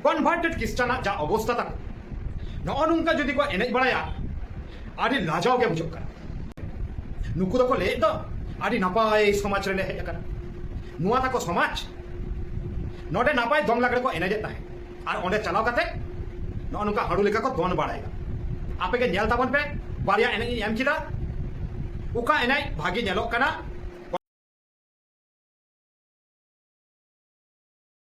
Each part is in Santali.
ᱠᱚᱱᱵᱷᱟᱨᱴᱮᱰ ᱠᱷᱨᱤᱥᱴᱟᱱᱟᱜ ᱡᱟ ᱚᱵᱚᱥᱛᱟ ᱛᱟᱠᱚ ᱱᱚᱜᱼᱚ ᱱᱚᱝᱠᱟ ᱡᱩᱫᱤ ᱠᱚ ᱮᱱᱮᱡ ᱵᱟᱲᱟᱭᱟ ᱟᱹᱰᱤ ᱞᱟᱡᱟᱣ ᱜᱮ ᱵᱩᱡᱷᱟᱹᱜ ᱠᱟᱱᱟ ᱱᱩᱠᱩ ᱫᱚᱠᱚ ᱞᱟᱹᱭᱮᱫ ᱫᱚ ᱟᱹᱰᱤ ᱱᱟᱯᱟᱭ ᱥᱚᱢᱟᱡᱽ ᱨᱮᱞᱮ ᱦᱮᱡ ᱟᱠᱟᱱᱟ ᱱᱚᱣᱟ ᱛᱟᱠᱚ ᱥᱚᱢᱟᱡᱽ ᱱᱚᱰᱮ ᱱᱟᱯᱟᱭ ᱫᱚᱝ ᱞᱟᱜᱽᱲᱮ ᱠᱚ ᱮᱱᱮᱡᱮᱫ ᱛᱟᱦᱮᱸᱫ ᱟᱨ ᱚᱸᱰᱮ ᱪᱟᱞᱟᱣ ᱠᱟᱛᱮ ᱱᱚᱜᱼᱚ ᱱᱚᱝᱠᱟ ᱦᱟᱹᱲᱩ ᱞᱮᱠᱟ ᱠᱚ ᱫᱚᱱ ᱵᱟᱲᱟᱭᱮᱫᱟ ᱟᱯᱮ ᱜᱮ ᱧᱮᱞ ᱛᱟᱵᱚᱱ ᱯᱮ ᱵᱟᱨᱭᱟ ᱮᱱᱮᱡ ᱤᱧ ᱮᱢ ᱠᱮᱫᱟ ᱚᱠᱟ ᱮᱱᱮᱡ ᱵᱷᱟᱜᱮ ᱧᱮᱞᱚᱜ ᱠᱟᱱᱟ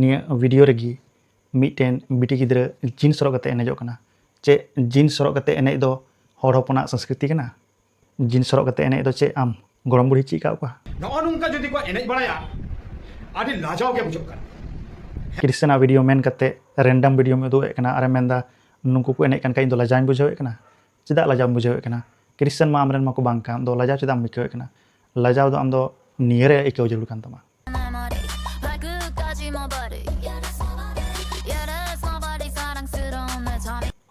ᱱᱤᱭᱟᱹ ᱵᱷᱤᱰᱤᱭᱳ ᱨᱮᱜᱮ ᱢᱤᱫᱴᱮᱱ ᱵᱤᱴᱤ ᱜᱤᱫᱽᱨᱟᱹ ᱡᱤᱱᱥ ᱦᱚᱨᱚᱜ ᱠᱟᱛᱮ ᱮᱱᱮᱡᱚᱜ ᱠᱟᱱᱟ ᱪᱮ ᱡᱤᱱᱥ ᱦᱚᱨᱚᱜ ᱠᱟᱛᱮ ᱮᱱᱮᱡ ᱫᱚ ᱦᱚᱲ ᱦᱚᱯᱚᱱᱟᱜ ᱥᱚᱝᱥᱠᱨᱤᱛᱤ ᱠᱟᱱᱟ ᱡᱤᱱᱥ ᱦᱚᱨᱚᱜ ᱠᱟᱛᱮ ᱮᱱᱮᱡ ᱫᱚ ᱪᱮ ᱟᱢ ᱜᱚᱲᱚᱢ ᱵᱩᱲᱦᱤ ᱪᱮᱫ ᱠᱟᱜ ᱠᱚᱣᱟ ᱱᱚᱜᱼᱚ ᱱᱚᱝᱠᱟ ᱡᱩᱫᱤ ᱠᱚ ᱮᱱᱮᱡ ᱵᱟᱲᱟᱭᱟ ᱟᱹᱰᱤ ᱞᱟᱡᱟᱣ ᱜᱮ ᱵᱩᱡᱷᱟᱹᱜ ᱠᱟᱱᱟ ᱠᱨᱤᱥᱪᱟᱱ ᱟᱜ ᱵᱷᱤᱰᱤᱭᱳ ᱢᱮᱱ ᱠᱟᱛᱮ ᱨᱮᱱᱰᱟᱢ ᱵᱷᱤᱰᱤᱭᱳ ᱩᱫᱩᱜ ᱮᱫ ᱠᱟᱱᱟ ᱟᱨᱮ ᱢᱮᱱᱫᱟ ᱱᱩᱠᱩ ᱠᱚ ᱮᱱᱮᱡ ᱠᱟᱱ ᱠᱷᱟᱡ ᱤᱧ ᱫᱚ ᱞᱟᱡᱟᱣᱤᱧ ᱵᱩᱡᱷᱟᱹᱣ ᱮᱫ ᱠᱟᱱᱟ ᱪᱮᱫᱟᱜ ᱞᱟᱡᱟᱣ ᱵᱩᱡᱷᱟᱹᱣ ᱮᱫ ᱠᱟᱱᱟ ᱠᱨᱤᱥᱪᱟᱱ ᱢᱟ ᱟᱢᱨᱮᱱ ᱢᱟᱠᱚ ᱵᱟᱝ ᱠᱟᱱ ᱫᱚ ᱞᱟᱡᱟᱣ ᱪᱮᱫᱟᱜ ᱮᱢ ᱟᱹᱭᱠᱟᱹᱣ ᱮᱫ ᱠᱟᱱᱟ ᱞᱟᱡᱟᱣ ᱫᱚ ᱟᱢ ᱫᱚ ᱱᱤᱭᱟᱹᱨᱮ ᱟᱹᱭᱠᱟᱹᱣ ᱡᱟᱹᱨᱩᱲ ᱠᱟᱱ ᱛᱟᱢᱟ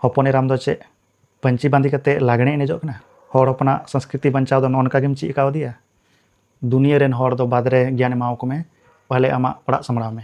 ᱦᱚᱯᱚᱱ ᱮᱨᱟᱢ ᱫᱚ ᱪᱮᱫ ᱯᱟᱹᱧᱪᱤ ᱵᱟᱸᱫᱮ ᱠᱟᱛᱮ ᱞᱟᱜᱽᱬᱮ ᱮᱱᱮᱡᱚᱜ ᱠᱟᱱᱟ ᱦᱚᱲ ᱦᱚᱯᱚᱱᱟᱜ ᱥᱚᱝᱥᱠᱨᱤᱛᱤ ᱵᱟᱧᱪᱟᱣ ᱫᱚ ᱱᱚᱝᱠᱟ ᱜᱮᱢ ᱪᱮᱫ ᱠᱟᱣᱫᱮᱭᱟ ᱫᱩᱱᱤᱭᱟᱹ ᱨᱮᱱ ᱦᱚᱲ ᱫᱚ ᱵᱟᱫᱽ ᱨᱮ ᱜᱮᱭᱟᱱ ᱮᱢᱟᱣᱟᱠᱚ ᱢᱮ ᱯᱟᱦᱞᱮ ᱟᱢᱟᱜ ᱚᱲᱟᱜ ᱥᱟᱢᱲᱟᱣ ᱢᱮ